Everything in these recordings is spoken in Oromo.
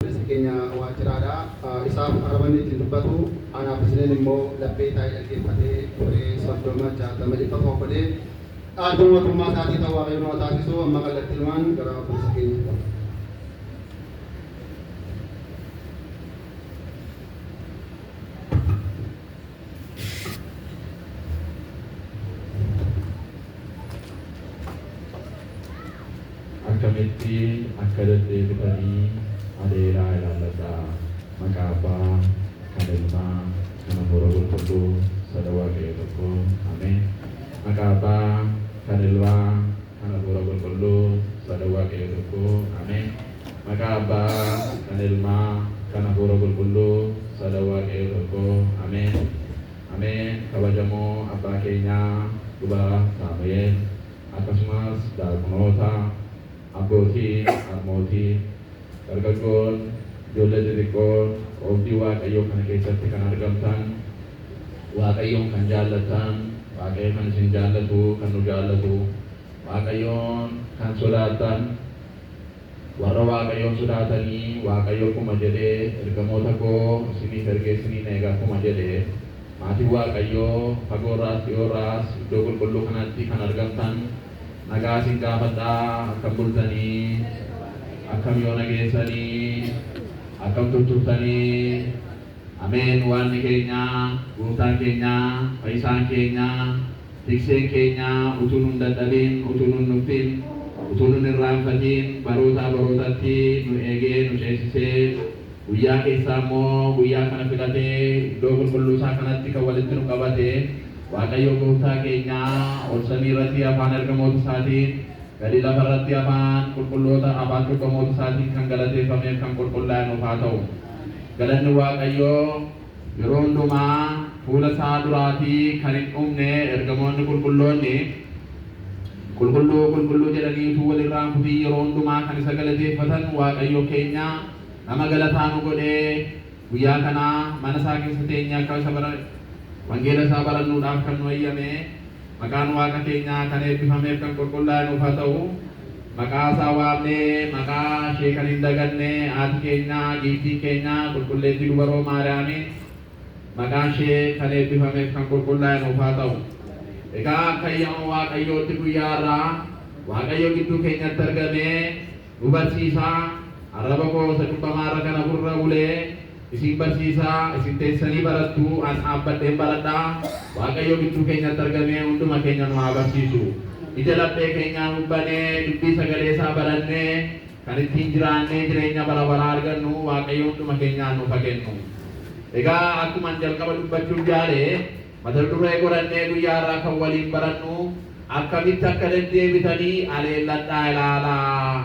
Obboleessi keenya waajjiraadha. Isaaf arrabni ittiin dubbatu, anaaf isiniin immoo laphee taa'ee dhaggeeffatee turee 30, 60, 100 of godhee dhaaltuu mootummaa isaatii ta'u Waaqayyo nu haa taasisu. Amma kallattiinumaan gara obboleessa keenyaatti. Akkamitti akka deddeebitanii adeeraa ilaalladhaa. Maqaa Abbaa, kan Ilmaa, kan Hafuura Qulqulluu, Sada Waaqayyo Tokkoo. Ameen. Maqaa Abbaa, kan Ilmaa. kan Hafuura Qulqulluu Sadan Waaqayyoo Tokkoo. Ameen. Maqaa Abbaa, kan Ilmaa, kan Hafuura Qulqulluu Sadan Waaqayyoo Tokkoo. Ameen. Ameen. Kabajamoo Abbaa keenyaa Luba Saamu'eel, akkasumas Daaqunoota, Abbootii, Harmootii, Dargaggoon, Ijoollee Xixiqqoon, Oobdii Waaqayyoo kana keessatti kan argamtan, Waaqayyoon kan jaallattan, Waaqayyo kan isin jaallatu, kan nu jaallatu, Waaqayyoon kan sodaattan, warra Waaqayyoon sodaatanii, Waaqayyo akkuma jedhe, Ergamoota koo isiniif ergee isiniin eega akkuma jedhe, maatiin Waaqayyoo fagoo irraas dhi'oo irraas iddoo qulqulluu kanatti kan argamtan nagaa isin gaafadha, akkam bultanii? Akkam yoona geessanii? Akkam tutturtanii? Ameen Waaqni keenya, Gooftaan keenya, Fayyisaan keenya, Tikseen keenya utuu nun dadhabin, utuu nun nuffin, utuu nun irraanfatin barootaa barootatti nu eegee nu ceesisee guyyaa keessaa immoo guyyaa kana filatee iddoo qulqulluu isaa kanatti kan walitti nu qabate Waaqayyoo Gooftaa keenya ol samii irratti afaan ergamoota isaatiin gadi lafa irratti afaan qulqulloota afaan cubbamoota isaatiin kan galateeffameef kan qulqullaa'e nuuf haa ta'u. Galanni Waaqayyoo yeroo hundumaa fuula isaa duraatii kan hin dhumne ergamoonni qulqulloonni Qulqulluu qulqulluu jedhanii utuu wal irraa hin kutiin yeroo hundumaa kan isa galateeffatan Waaqayyo keenya nama galataa nu godhee guyyaa kana mana isaa keessa teenyee akka isa bara wangeela isaa barannuudhaaf kan nu hayyame Maqaan Waaqa keenyaa kan eebbifameef kan qulqullaa'e nuuf haa ta'u. Maqaa isaa waamnee maqaa ishee kan hin daganne haati keenya giiftiin keenya qulqulleettii dubaroo Maariyaamiin maqaan ishee kan eebbifameef kan qulqullaa'e nuuf haa ta'u. Egaa akka ayyama Waaqayyootti guyyaa har'aa Waaqayyo gidduu keenyatti argamee nu barsiisaa arraba koo isa cubbamaarra kana gurra bulee Isin barsiisaa, isin teessanii barattu, an dhaabbadheen baradha. Waaqayyo gidduu keenyatti argamee hunduma keenya nu haa barsiisu. Ija laphee keenyaa nuuf banee, dubbii sagalee isaa barannee, kan ittiin jiraannee jireenya bara baraa argannu Waaqayyo hunduma keenyaaf nuuf haa kennu. Egaa akkuman jalqaba dubbachuuf yaale, mata duree godhannee guyyaa har'aa kan waliin barannu, Akkamitti akka deddeebitanii aleelladhaa ilaalaa.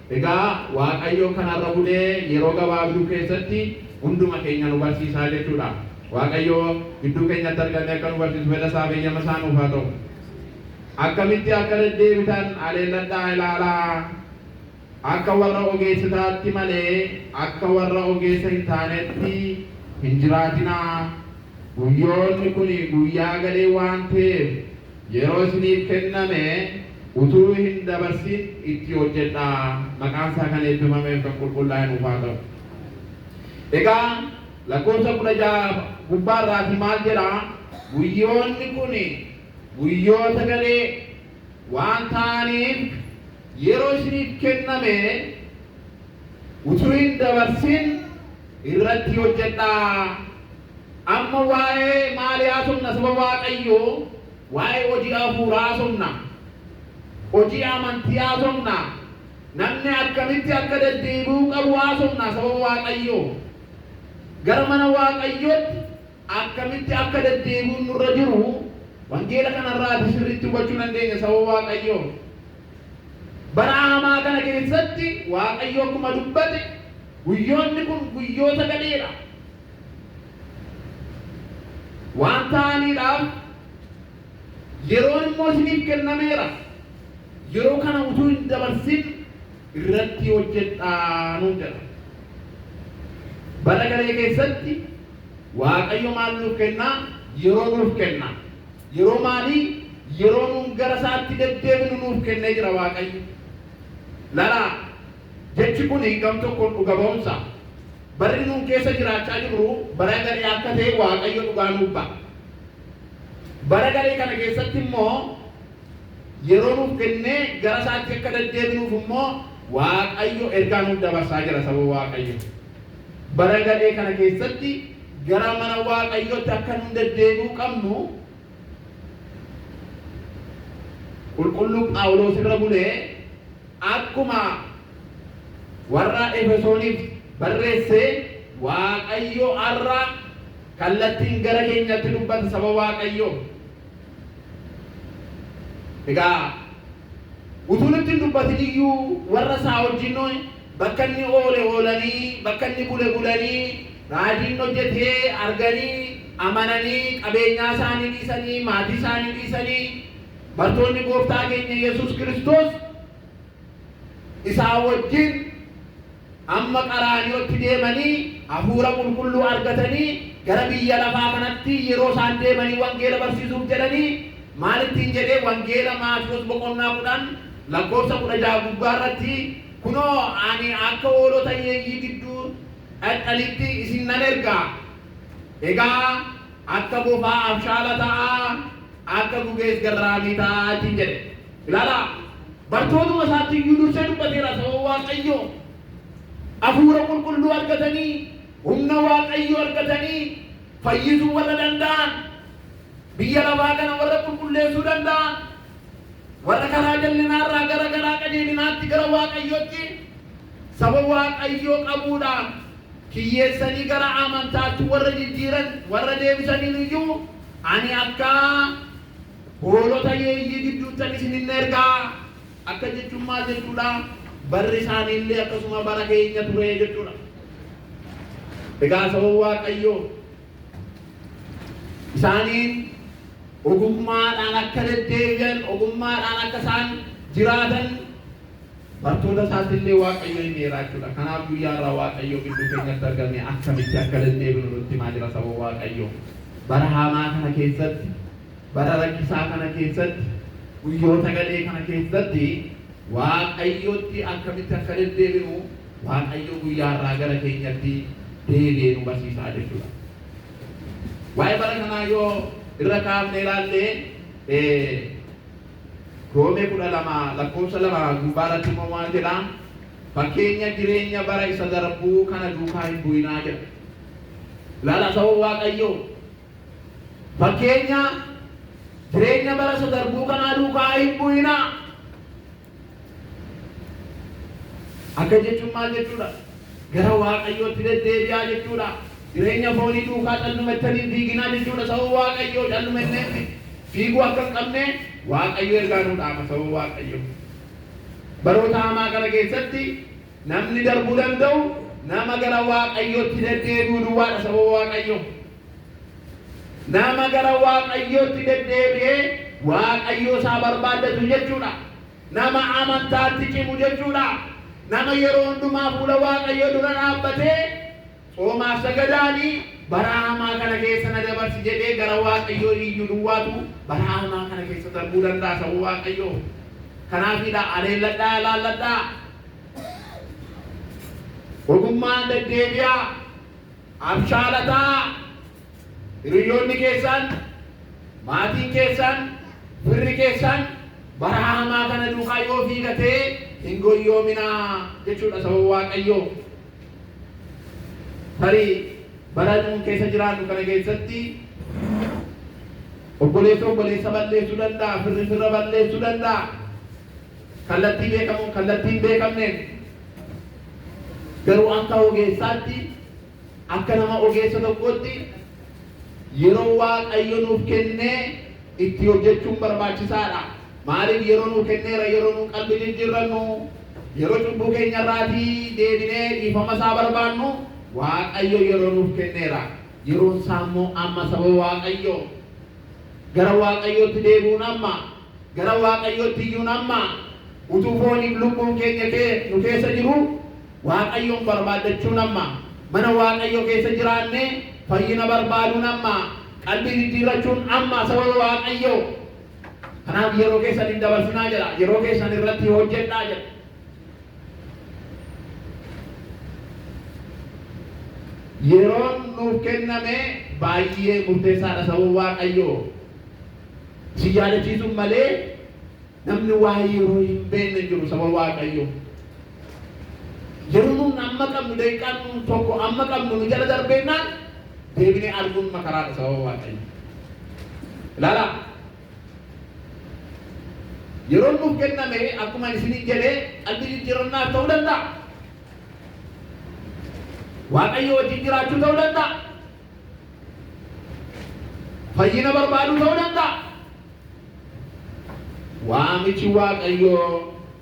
Egaa Waaqayyo kan har'a bulee yeroo gabaabduu keessatti hunduma keenya nu barsiisaa jechuudha. Waaqayyo gidduu keenyatti argamee akka nu barsiisu fedha isaa fi eyyama isaa nuuf haa ta'u. Akkamitti akka deddeebitan haleelladhaa ilaalaa. Akka warra ogeessotaatti malee akka warra ogeessa hin taanetti hin jiraatinaa. Guyyoonni kun guyyaa gadhee waan ta'eef Yeroo isiniif kenname utuu hin dabarsin itti hojjedhaa. Maqaan isaa kan eebbifamee fi kan qulqullaa'e nuuf haa ta'u. Egaa lakkoofsa kudha ja'a gubbaa irraati maal jedha? Guyyoonni kun guyyoota gadhee waan ta'aniif yeroo isiniif kenname utuu hin dabarsin irratti hojjedhaa. Amma waa'ee maalii haasofna? Saba Waaqayyoo waa'ee hojii hafuuraa haasofna. Hojii amantii haasofna. Namni akkamitti akka deddeebi'uu qabu haasofna saba Waaqayyoo. Gara mana Waaqayyootti Akkamitti akka deddeebi'uun nurra jiru wangeela kanarraati sirriitti hubachuu dandeenya saba Waaqayyoo. Bara hamaa kana keessatti Waaqayyo akkuma dubbate guyyoonni kun guyyoota gadheedha. Waan ta'aniidhaaf yeroon immoo isiniif kennameera. Yeroo kana utuu hin dabarsin irratti hojjedhaa nuun jedha. Bara garee keessatti Waaqayyo maal nuuf kenna? Yeroo nuuf kenna. Yeroo maalii? Yeroo nuun gara isaatti deddeebinu nuuf kennee jira Waaqayyo. Lalaa, jechi kun gam tokkoon dhuga ba'umsa. Barri nuun keessa jiraachaa jirru bara gadhee akka ta'e Waaqayyo dhugaa nuuf ba'a. Bara gadhee kana keessatti immoo yeroo nuuf kennee gara isaatti akka deddeebinuuf immoo Waaqayyo ergaa nuuf dabarsaa jira saba Waaqayyo. Bara gadhee kana keessatti gara mana Waaqayyootti akka nun deddeebi'uu qabnu Qulqulluu Phaawuloos irra bulee akkuma warra Efesooniif barreesse Waaqayyo har'a kallattiin gara keenyatti dubbata saba Waaqayyoo. Egaa utuu nutti hin dubbatin iyyuu warra isaa wajjin Bakka inni oole oolanii, bakka inni bule bulanii, raajii inni hojjete arganii, amananii, qabeenyaa isaanii dhiisanii, maatii isaanii dhiisanii, bartoonni Gooftaa keenya Yesuus Kiristoos isaa wajjin hamma Qaraaniyootti deemanii Hafuura Qulqulluu argatanii gara biyya lafaa kanatti yeroo isaan deemanii wangeela barsiisuuf jedhanii maal ittiin jedhee wangeela Maatiwoos boqonnaa 10 lakkoofsa 16 gubbaa irratti Kunoo, ani akka hoolota hiyyeeyyii gidduu dhaqxanitti isin nan erga. Egaa akka bofaa abshaala ta'aa, akka gugees garraamii ta'aa ittiin jedhe. Ilaalaa, bartootuma isaatti iyyuu dursee dubbateera, saba Waaqayyo Hafuura Qulqulluu argatanii, humna Waaqayyo argatanii, fayyisuu warra danda'an, biyya lafaa kana warra qulqulleessuu danda'an, Warra karaa jallinaa irraa gara garaa qajeelinaatti gara Waaqayyootti saba Waaqayyoo qabuudhaaf kiyyeessanii gara amantaatti warra jijjiiran warra deebisaniin iyyuu ani akka hoolota yeeyyii gidduuttan isin hin ergaa akka jechuun maal jechuudha barri isaanii illee akkasuma bara keenya ture jechuudha. Egaa saba Waaqayyoo isaaniin ogummaadhaan akka deddeebi'an ogummaadhaan akka isaan jiraatan bartoota isaatti illee waaqayyo hin dheeraachuudha. Kanaaf guyyaa irraa waaqayyo gidduu keenyatti argame akkamitti akka deddeebinu nutti himaa jira saba waaqayyo. Bara hamaa kana keessatti, bara rakkisaa kana keessatti, guyyoota gadhee kana keessatti Waaqayyootti akkamitti akka deddeebinu Waaqayyo guyyaa har'aa gara keenyatti deebi'ee nu barsiisaa jechuudha. Waa'ee bara kanaa yoo irra kaafnee ilaallee Roomee kudha lama lakkoofsa lama gubbaa irratti immoo waan jedha fakkeenya jireenya bara isa darbuu kana duukaa hin bu'inaa jedha. Ilaala sababa Waaqayyoo Fakkeenya jireenya bara isa darbuu kanaa duukaa hin bu'inaa. Akka jechuun maal jechuudha? Gara Waaqayyootti deddeebi'aa jechuudha. Jireenya foonii duukaa callumettanii hin fiiginaa jechuudha. Sababa Waaqayyoo callumenneetti fiiguu akka hin qabne Waaqayyo ergaa nuu dhaama sababa Waaqayyoo. Baroota hamaa kana keessatti Namni darbuu danda'u nama gara Waaqayyootti deddeebi'u duwwaadha sababa Waaqayyoo. Nama gara Waaqayyootti deddeebi'ee Waaqayyoo isaa barbaaddatu jechuudha. Nama amantaatti cimu jechuudha. Nama yeroo hundumaa fuula Waaqayyoo dura dhaabbatee Tsoomaaf sagadaani baraa hamaa kana keessa na dabarsi jedhee gara Waaqayyoo iyyu duwwaatu baraa hamaa kana keessa darbuu danda'a saba Waaqayyoo. Kanaafiidha aleelladhaa ilaalladhaa. Ogummaan deddeebi'aa abshaalataa hiriyoonni keessaan maatiin keessaan firri keessaan baraa hamaa kana duukaa yoo fiigatee hin goyyoominaa jechuudha saba Waaqayyoo. Tarii bara nuun keessa jiraannu kana keessatti obboleessi obboleessa balleessuu danda'a, firri firra balleessuu danda'a. Kallattii beekamuun kallattii hin beekamneen. Garuu akka ogeessaatti, akka nama ogeessa tokkootti yeroo Waaqayyo nuuf kennee itti hojjechuun barbaachisaadha. Maaliif yeroo nuu kenneera yeroo nu qalbi jijjirrannu, yeroo cubbuu keenya irraati deebinee dhiifama isaa barbaannu Waaqayyo yeroo nuuf kenneera. Yeroon isaa immoo amma saba Waaqayyo. Gara Waaqayyootti deebi'uun amma. Gara Waaqayyootti iyyuun amma. Utuu fooniif lubbuun keenya kee nu keessa jiru Waaqayyoon barbaaddachuun amma. Mana Waaqayyo keessa jiraannee fayyina barbaaduun amma. Qalbi jijjiirrachuun amma saba Waaqayyo. Kanaaf yeroo keessan hin dabarsinaa jedha. Yeroo keessan irratti hojjedhaa jedha. Yeroon nuuf kenname baay'ee murteessaadha sababa Waaqayyoo. Si yaadachiisuun malee namni waa'ee yeroo hin beekne hin jiru sababa Waaqayyoo. Yeroo nuun amma qabnu daqiiqaan nuun tokko amma qabnu nu jala darbeennaan deebinee arguun makaraadha sababa waaqayyo. Ilaala. Yeroon nuuf kenname akkuma isiniin jedhee qalbii jijjiirannaa ta'uu danda'a. Waaqayyo wajjin jiraachuu ta'uu danda'a. Fayyina barbaaduu ta'uu danda'a. Waamichi waaqayyoo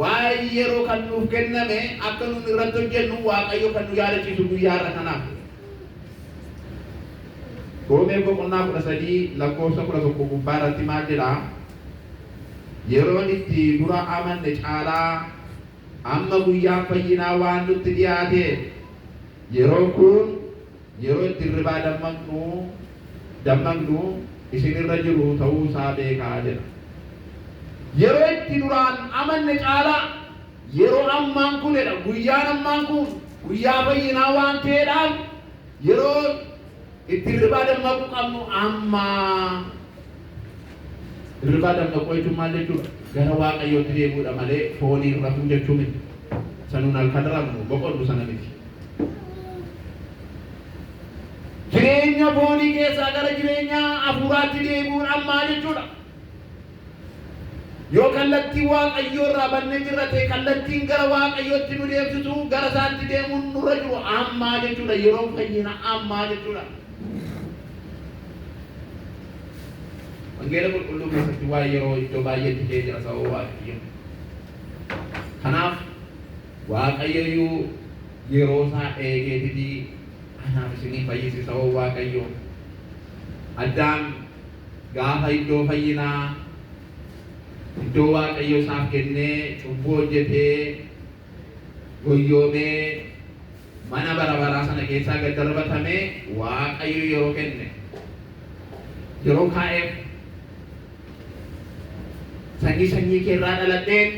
Waa'een yeroo kan nuuf kenname akka nuun irratti hojjennu Waaqayyo kan nu yaadachiisu guyyaa har'a kanaaf. Roomee boqonnaa 13 lakkoofsa 11 gubbaa irratti maal jedha? Yeroon itti dura amanne caalaa amma guyyaan fayyinaa waan nutti dhiyaateef yeroon kun Yeroo itti hirribaa dammaqnu, dammaqnu isin irra jiru ta'uu isaa beekaa jedha. Yeroo itti duraan amanne caalaa yeroo ammaan kun jedha guyyaan ammaan kun guyyaa fayyinaa waan ta'eedhaaf yeroo itti hirribaa dammaquu qabnu ammaa. Hirribaa dammaquu jechuun maal jechuudha? Gara Waaqayyootti deebi'uudha malee fooniin rafuu jechuu miti. Isa nuun halkan rafnu, boqonnu sana miti. Jireenya foonii keessaa gara jireenya hafuuraatti deebi'uudhaan maal jechuudha? Yoo kallattii Waaqayyoo irraa bannee jirra ta'e kallattiin gara Waaqayyootti nu deemsisu gara isaatti deemuun nurra jiru ammaa jechuudha. Yeroo fayyina ammaa jechuudha. Wangeela qulqulluu keessatti waa'ee yeroo iddoo baay'eetti ka'ee jira sababa Waaqayyo. Kanaaf Waaqayyoyyuu yeroo isaa eegeetitii anaaf isinii fayyise sababa Waaqayyo. Addaam gaafa iddoo fayyinaa iddoo Waaqayyo isaaf kennee cubbuu hojjetee goyyoomee Mana bara baraa sana keessaa gad darbatamee Waaqayyo yeroo kenne, yeroo kaa'eef sanyii sanyii kee irraa dhaladheen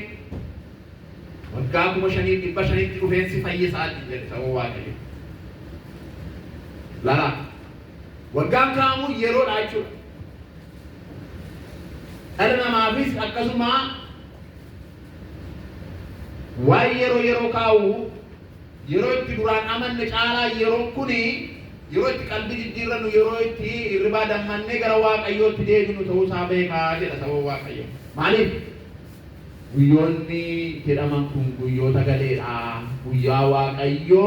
waggaa kuma shaniif dhibba shanitti dhufeen si fayyisaatiin jedhe sababa Waaqayyo. Laraa waggaan kaa'amu yeroodha jechuudha. Dhala namaafis akkasuma waan yeroo yeroo kaa'u Yeroo itti duraan amanne caalaa yeroon kuni yeroo itti qalbii jijjiirrannu, yeroo itti hirribaa dammannee gara Waaqayyootti deebinu ta'uu isaa beekaa jedha saba Waaqayyo. Maaliif? Guyyoonni jedhaman kun guyyoota galee dha. Guyyaa Waaqayyo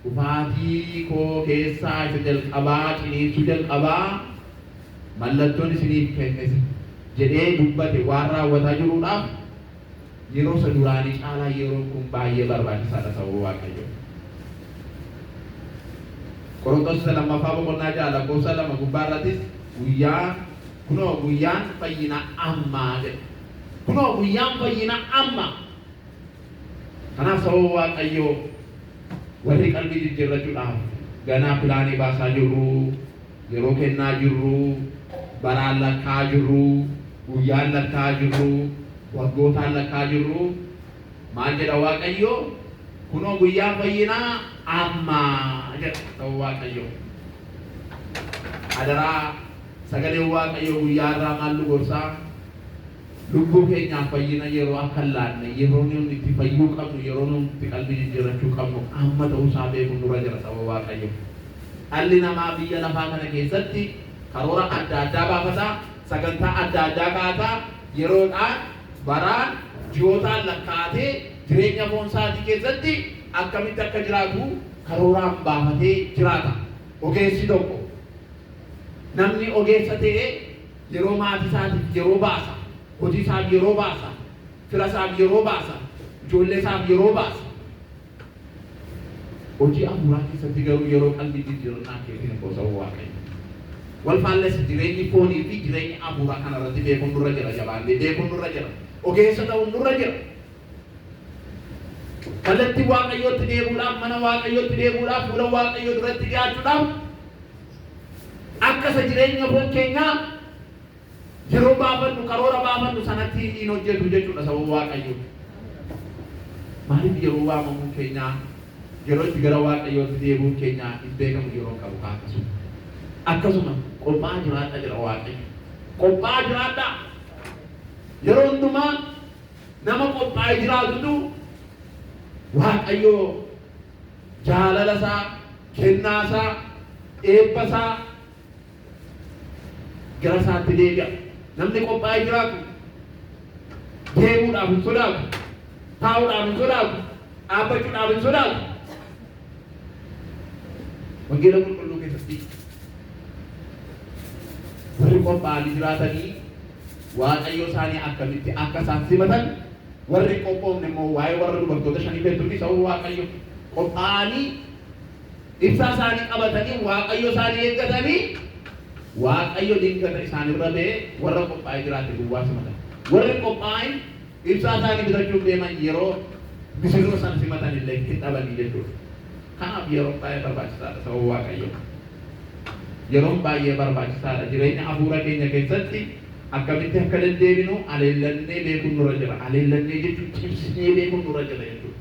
dhufaatii koo keessaa isa jalqabaa ciniinsuu jalqaba, mallattoon isiniif kennes jedhee dubbate waan raawwataa jiruudhaaf Yeroo isa duraanii caalaa yeroon kun baay'ee barbaachisaa dha sababa Waaqayyoo. Qoronxos isa lammaffaa boqonnaa ja'a lakkoofsa lama gubbaa irrattis guyyaa kunoo guyyaan fayyina ammaa jedha. Kunoo guyyaan fayyina amma. Kanaaf sababa Waaqayyoo warri qalbii jijjiirrachuudhaaf ganaa pilaanii baasaa jirru Yeroo kennaa jirru, baraan lakkaa'aa jirru, guyyaan lakkaa'aa jirru, waggootaan lakkaa'aa jirru, maal jedha Waaqayyo? Kunoo guyyaan fayyinaa amma jedha sababa Waaqayyoo. Adaraa sagaleen Waaqayyoo guyyaa har'aa maal nu gorsaa? Lubbuu keenyaaf fayyina yeroo akka hin laanne, yeroo nuti itti fayyuu qabnu, yeroo nuti itti qalbii jijjiirrachuu qabnu amma ta'uu isaa beekuun nurra jira sababa Waaqayyoo. Dhalli namaa biyya lafaa kana keessatti karoora adda addaa baafata, sagantaa adda addaa kaa'ata, yeroodhaan, baraan, ji'ootaan lakkaa'atee jireenya foon isaatii keessatti akkamitti akka jiraatu karooraan baafatee jiraata. Ogeessi tokko, namni ogeessa ta'e yeroo maatii isaatiif yeroo baasa, hojii isaaf yeroo baasa, fira isaaf yeroo baasa, ijoollee isaaf yeroo baasa. Hojii afuuraa keessatti garuu yeroo qalbii jijjiirannaa keetii hin qusa'uu waaqayyo. Wal faallessa jireenyi foonii fi jireenyi afuuraa kana irratti beekuun nurra jira jabaannee beekuun nurra jira. Ogeessa ta'uun nurra jira. Kallattii waaqayyootti deebuudhaaf mana waaqayyootti deebuudhaaf fuula waaqayyoo duratti dhiyaachuudhaaf akka isa jireenya foon keenyaa Yeroo baafannu karoora baafannu sanatti hin hojjetu jechuudha sababa Waaqayyoo. Maaliif yeroo waamamuun keenyaa yeroo itti gara Waaqayyootti deebi'uun keenyaa hin beekamu yeroo qabu kaa akkasuma. Akkasuma qophaa'aa jiraadha jedha Waaqayyo. Qophaa'aa jiraadha. Yeroo hundumaa nama qophaa'ee jiraatutu Waaqayyoo jaalala isaa, kennaa isaa, eebba isaa gara isaatti deebi'a. Namni qophaa'ee jiraatu deemuudhaaf hin sodaatu, taa'uudhaaf hin sodaatu, dhaabbachuudhaaf hin sodaatu. Wangeela qulqulluu keessatti warri qophaa'anii jiraatanii waaqayyo isaanii akkamitti akka isaan simatan warri qophoofne immoo waa'ee warra dubartoota shanii beektuufi sababa waaqayyo qophaa'anii Ibsaa isaanii qabatanii Waaqayyo isaanii eeggatanii Waaqayyo dilgata isaan irra ba'ee warra qophaa'ee jiraate duwwaa simatan. Warri qophaa'in ibsaa isaanii bitachuuf deeman yeroo misirroo sana simatan illee hin dhabanii jechuudha. Kanaaf yeroon baay'ee barbaachisaadha sababa Waaqayyo. Yeroon baay'ee barbaachisaadha jireenya hafuura keenya keessatti akkamitti akka deddeebinu aleellannee beekuun nurra jira. Aleellannee jechuun cimsinee beekuun nurra jira jechuudha.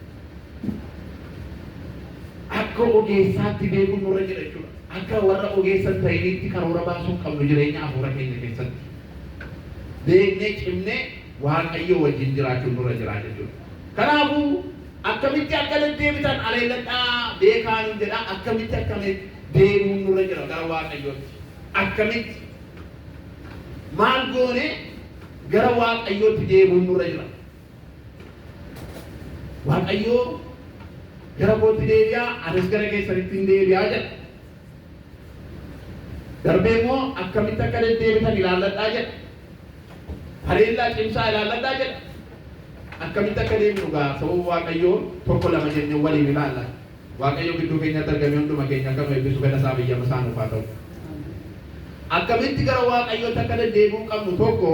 Akka ogeessaatti beekuun nurra jira jechuudha. Akka warra ogeessa hin ta'iniitti karoora baasuu hin qabnu jireenya hafuura keenya keessatti. Beeknee cimnee Waaqayyoo wajjin jiraachuun nurra jira jechuudha. Kanaafuu akkamitti akka deddeebitan aleelladhaa beekaa nuun jedha. Akkamitti akka deebi'uun nurra jira gara Waaqayyootti. Akkamitti maal goone gara Waaqayyootti deebi'uun nurra jira. Waaqayyo gara kootti deebi'aa anis gara keessanitti hin deebi'aa jedha. Darbee immoo akkamitti akka deddeebitan ilaalladhaa jedha. Haleellaa cimsaa ilaalladhaa jedha. Akkamitti akka deemnu gaa sababa Waaqayyoo tokko lama jennee waliin ilaalla. Waaqayyo gidduu keenyatti argamee hunduma keenya akka nu eebbisu fedha isaa biyyama isaa nuuf haa ta'u. Akkamitti gara Waaqayyootti akka deddeebi'uu qabnu tokko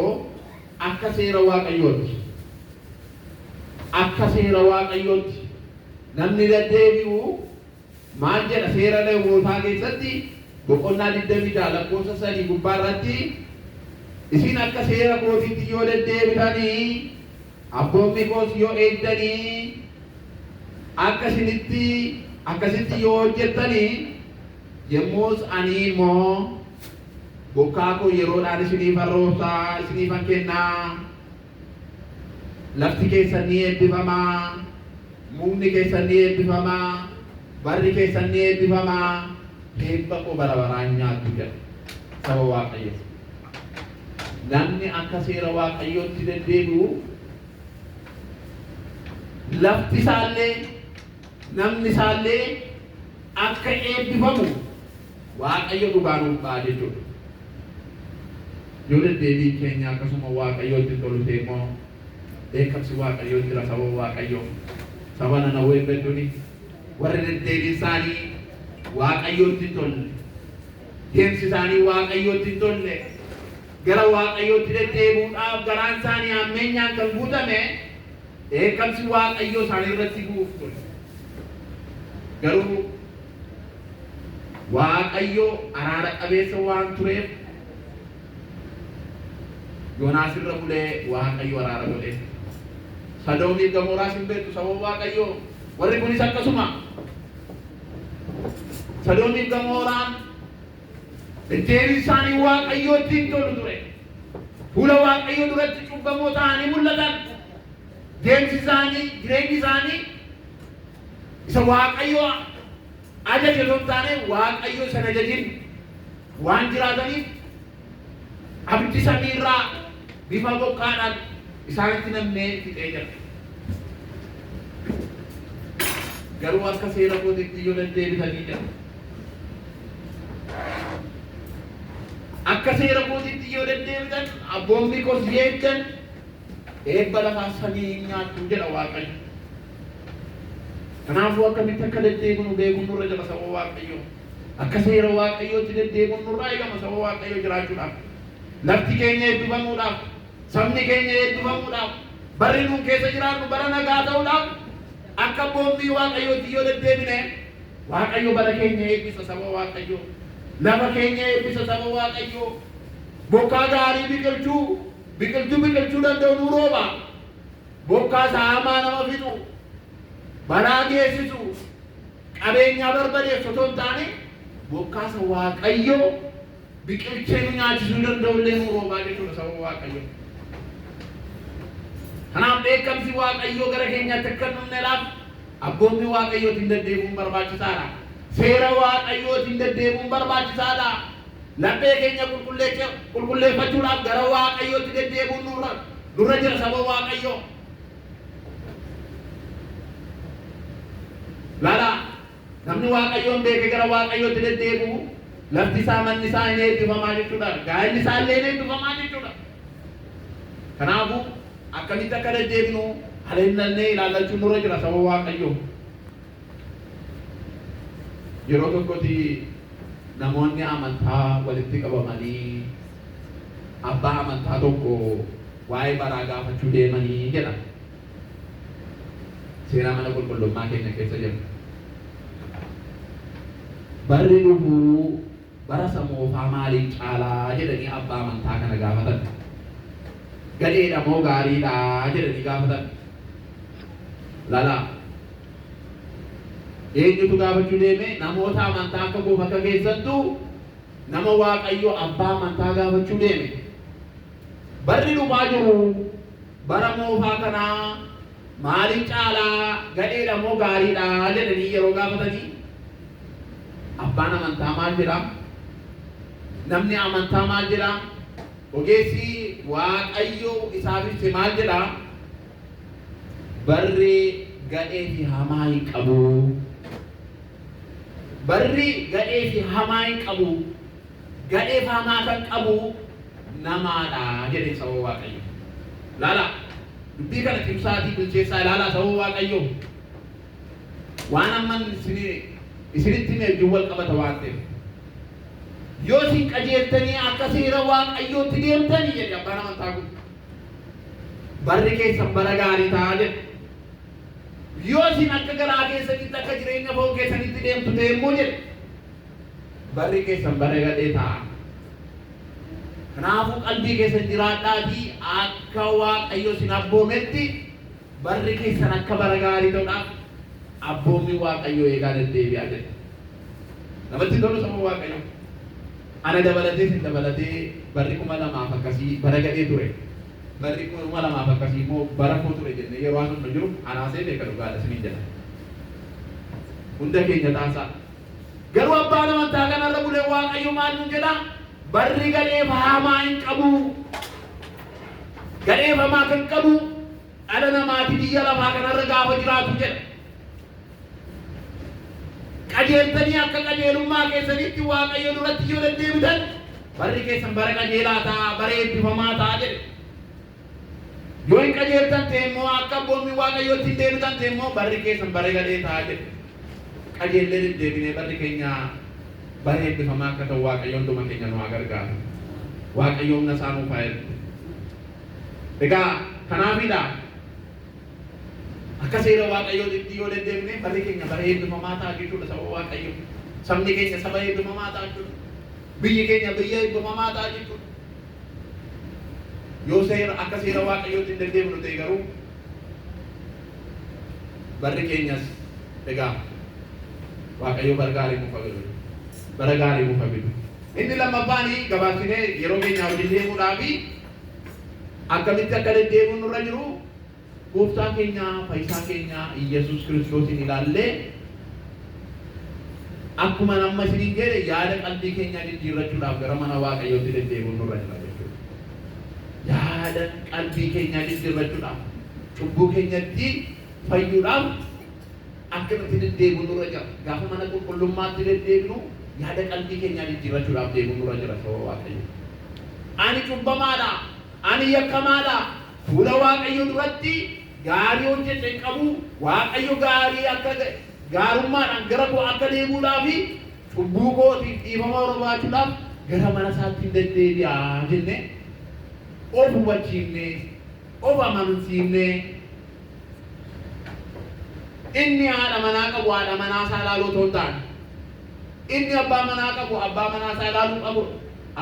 Akka seera Waaqayyootti Akka seera Waaqayyootti namni deddeebi'u maal jedha? Seera Lewwootaa keessatti boqonnaa 26 lakkoofsa 3 gubbaa irratti Isin akka seera kootiitti yoo deddeebitanii, abboommii koos yoo eegdanii, akka isinitti akkasitti yoo hojjettanii, Yommus ani immoo, Bokkaa koo yeroodhaan isiniifan roobsa, isiniifan kenna, lafti keessan ni eebbifama, mukni keessan ni eebbifama, barri keessan ni eebbifama, eebba koo bara baraa hin nyaattu jedha saba Waaqayyoo. Namni akka seera Waaqayyootti deddeebi'u lafti isaallee Namni isaallee akka eebbifamu Waaqayyo dhugaa nuuf ba'a jechuudha. Yoo deddeebiin keenya akkasuma Waaqayyootti hin tolu ta'e immoo dheekkamsi Waaqayyoo hin jira saba Waaqayyoo. Saba Nanawween beektuuni warri deddeebiin isaanii Waaqayyootti hin tolle, deemsi isaanii Waaqayyootti hin tolle, gara Waaqayyootti deddeebi'uudhaaf garaan isaanii hammeenyaan kan guutame Dheekkamsi Waaqayyoo isaanii irratti bu'uuf ture. Garuu Waaqayyo araara qabeessa waan tureef Yoonaas irra bulee Waaqayyo araara godheef. Sadoomiif Gamooraas hin beektu sababa Waaqayyoo warri kunis akkasuma. Sadoomiif Gamooraan Deddeebiin isaanii Waaqayyootti hin tolu ture. Fuula Waaqayyoo duratti cubbamoo ta'anii mul'atan. Deemsi isaanii, jireenyi isaanii isa Waaqayyoo ajaje osoo hin taane Waaqayyoo isa hin ajajin waan jiraataniif abiddi samii irraa bifa bokkaadhaan isaanitti nammee fixee jira. Garuu akka seera kootiitti yoo deddeebitanii jira. Akka seera kootiitti yoo deddeebitan, abboommii koos yoo eegdan, eebba lafaa samii in nyaattu jedha Waaqayyo. Kanaafuu akkamitti akka deddeebinu beekuun nurra jira saba Waaqayyoo. Akka seera Waaqayyootti deddeebi'uun nurraa eegama saba Waaqayyoo jiraachuudhaaf. Lafti keenya eebbifamuudhaaf. Sabni keenya eebbifamuudhaaf, barri nuun keessa jiraannu bara nagaa ta'uudhaaf akka abboommii Waaqayyootti yoo deddeebine, Waaqayyo bara keenya eebbisa saba Waaqayyoo, lafa keenya eebbisa saba Waaqayyoo, bokkaa gaarii biqilchuu, biqiltuu biqilchuu danda'u nuu rooba, bokkaa isa hamaa nama fixu, balaa geessisu, qabeenyaa barbadeessu otoo hin taane, bokkaa isa Waaqayyo biqilchee nu nyaachisuu danda'u illee nu roobaa jechuudha sababa Waaqayyoo. Kanaaf dheekkamsi Waaqayyoo gara keenyaatti akka hin dhufneedhaaf abboommii Waaqayyootiin deddeebi'uun barbaachisaadha. Seera Waaqayyootiin deddeebi'uun barbaachisaadha. Laphee keenya qulqulleecha- qulqulleeffachuudhaaf gara Waaqayyootti deddeebi'uun nurra nurra jira saba Waaqayyoo. Lala Namni Waaqayyoon beeke gara Waaqayyootti deddeebi'u, lafti isaa, manni isaa in eebbifamaa jechuudha, gaa'elli isaa illee in eebbifamaa jechuudha. Kanaafuu akkamitti akka deddeebinu alennallee ilaallachuun nurra jira saba Waaqayyoo. Yeroo tokkotti namoonni amantaa walitti qabamanii abbaa amantaa tokko waa'ee baraa gaafachuu deemanii jedha. Seeraa mana qulqullummaa keenya keessa jira. Barri dhufu bara isa moofaa maaliin caalaa jedhanii abbaa amantaa kana gaafatan. Gadheedha moo gaariidha jedhanii gaafatan. Lalaa. Eenyutu gaafachuu deeme? Namoota amantaa akka koof akka keessattu nama Waaqayyo abbaa amantaa gaafachuu deeme. Barri dhufaa jiru Bara moofaa kana maaliin caala gadheedha moo gaariidha jedhanii yeroo gaafatanii abbaan amantaa maal jedha? Namni amantaa maal jedha? Ogeessi Waaqayyo isaaf ibse maal jedha? Barri gadhee fi hamaa hin qabu. Barri gadhee fi hamaa hin qabu. gadhee faamaa kan qabuu namaa dha jedhee sababa waaqayyo. Laalaa dubbii kana cimsaatii bilcheessaa ilaalaa sababa waaqayyo waan amman isinitti hime wajjin wal qabata waan ta'eef. Yoo isin qajeeltanii akka seera waaqayyootti deemtanii jedhe abbaan amantaa kun. Barri keessan bara gaarii ta'a jedhe. Yoo isin akka garaa keessanitti akka jireenya foon keessanitti deemtu ta'e immoo jedhe. Barri keessan bara gadhee ta'a. Kanaafuu qalbii keessan jiraadhaatii akka Waaqayyo isin abboometti barri keessan akka bara gaarii ta'uudhaaf abboommii Waaqayyoo eegaa deddeebi'aa jedha. Namatti tolu saba Waaqayyo. Ana dabalatee isin dabalatee barri kuma lamaaf akkasii bara gadhee ture. Barri kuma lamaaf akkasii immoo bara koo ture jennee yeroo haasofnu jiru anaasee beeka dhugaadha isiniin jedha. Hunda keenya taasaa. Garuu abbaan amantaa kanarra bulee Waaqayyo maal nu jedha? Barri galeef haamaa hin qabu. Galeef hamaa kan qabu dhala namaati biyya lafaa kanarra gaafa jiraatu jedha. Qajeeltanii akka qajeelummaa keessanitti Waaqayyo duratti yoo deddeebitan barri keessan bara qajeelaa ta'a, bara eebbifamaa ta'a jedhe. Yoo hin qajeeltan ta'e immoo, akka abboommii Waaqayyootti hin deebitan ta'e immoo, barri keessan bara gadhee ta'a jedhe. Qajeellee deddeebinee barri keenya bara eebbifamaa akka ta'u Waaqayyo hunduma keenya nu haa gargaaru. Waaqayyo humna isaa nuuf haa ergu. Egaa kanaafidha akka seera Waaqayyootitti yoo deddeebine barri keenya bara eebbifamaa ta'a jechuudha saba Waaqayyo. Sabni keenya saba eebbifamaa ta'a jechuudha. Biyyi keenya biyya eebbifamaa ta'a jechuudha. Yoo seera akka seera Waaqayyootti hin deddeebinu ta'e garuu barri keenyas egaa Waaqayyo bara gaarii nuuf haa godhu. Bara gaarii nuuf haa fidu. Inni lammaffaan gabaabsinee yeroo keenyaa wajjin deemuudhaa fi akkamitti akka deddeebi'u nurra jiru Gooftaa keenya Fayyisaa keenya Iyyasuus Kiristoosiin ilaallee akkuman amma isiniin jedhe yaada qalbii keenyaa jijjiirrachuudhaaf gara mana Waaqayyootti deddeebi'uun nurra jira jechuudha. Yaada qalbii keenyaa jijjiirrachuudhaaf, cubbuu keenyatti fayyuudhaaf akkanatti deddeebi'uun nurra jira. Gaafa mana qulqullummaatti deddeebinu yaada qalbii keenyaa jijjiirrachuudhaaf deemuun nurra jira sababa Waaqayyoo. Ani cubbamaadha, ani yakkamaadha, Fuula Waaqayyoo duratti gaarii hojjete hin qabu, Waaqayyo gaarii akka ta'e, gaarummaadhaan gara koo akka deebi'udhaa fi cubbuu kootiif dhiifama barbaachuudhaaf gara mana isaatti hin deddeebi'a jennee of hubachiifnee, of amansiifnee inni haadha manaa qabu haadha manaa isaa ilaaluu otoo hin taane, inni abbaa manaa qabu abbaa manaa isaa ilaaluu qabu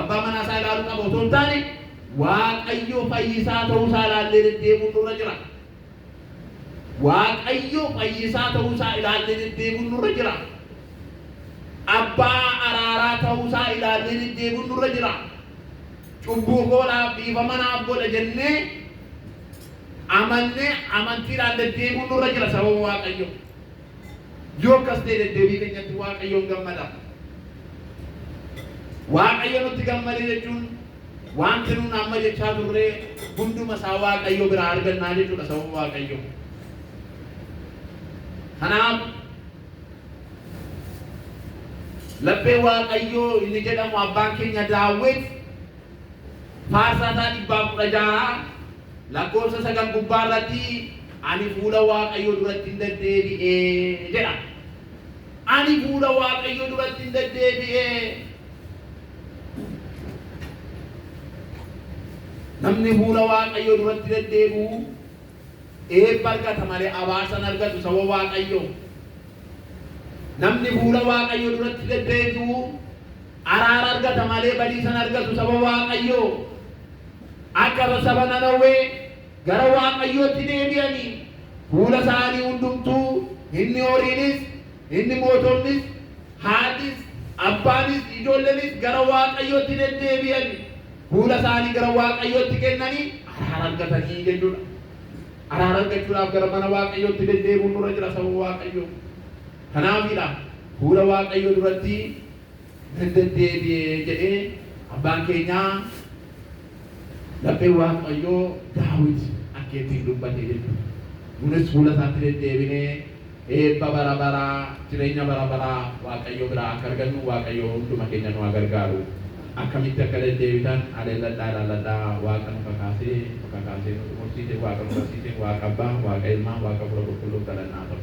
abbaa manaa isaa ilaaluu qabu otoo hin taane Waaqayyo fayyisaa ta'uu isaa ilaallee deddeebi'uun nurra jira. Waaqayyo fayyisaa ta'uu isaa ilaallee deddeebi'uun nurra jira. Abbaa araaraa ta'uu isaa ilaallee deddeebi'uun nurra jira. Cubbuu koodhaaf dhiifama naaf godha jennee amannee amantiidhaan deddeebi'uun nurra jira sababa Waaqayyo. Yoo akkas ta'e deddeebii keenyatti Waaqayyoon gammada. Waaqayyo nutti gammade jechuun Waanti nuun amma jechaa turre hunduma isaa Waaqayyo biraa argannaa jechuudha sababa Waaqayyo. Kanaaf laphee Waaqayyo inni jedhamu abbaan keenya Daawit faarsaa isaa dhibbaa kudha jaha lakkoofsa sagal gubbaa irratti ani fuula Waaqayyo duratti hin deddeebi'e jedha. Ani fuula Waaqayyo duratti hin deddeebi'e. Namni fuula Waaqayyoo duratti deddeebi'u eebba argata malee abaarsa hin argatu saba Waaqayyoo. Namni fuula Waaqayyoo duratti deddeebi'u araara argata malee badiisa hin argatu saba Waaqayyoo. Akka saba Nanawwee gara Waaqayyootti deebi'anii fuula isaanii hundumtuu inni horiinis inni mootonnis Haatis, abbaanis, ijoollenis gara Waaqayyootti deddeebi'ani fuula isaanii gara Waaqayyootti kennanii araara argatanii jechuudha. Araara argachuudhaaf gara mana Waaqayyootti deddeebi'uun nurra jira saba Waaqayyoo. Kanaafidha fuula Waaqayyoo duratti nan deddeebi'e jedhee abbaan keenyaa. Lapheen Waaqayyoo Daawit akka ittiin dubbate jechuudha. Nunis fuula isaatti deddeebinee eebba bara baraa, jireenya bara baraa Waaqayyo biraa akka argannu Waaqayyo hunduma keenya nu haa gargaaru. Akkamitti akka deddeebitan haleelladhaa ilaalladhaa, Waaqa nu kakaasee, nu kakaasee nu xumursiise, Waaqa nu barsiise, Waaqa Abbaa, Waaqa Ilmaa, Waaqa Hafuura Qulqulluuf galanni haa ta'u.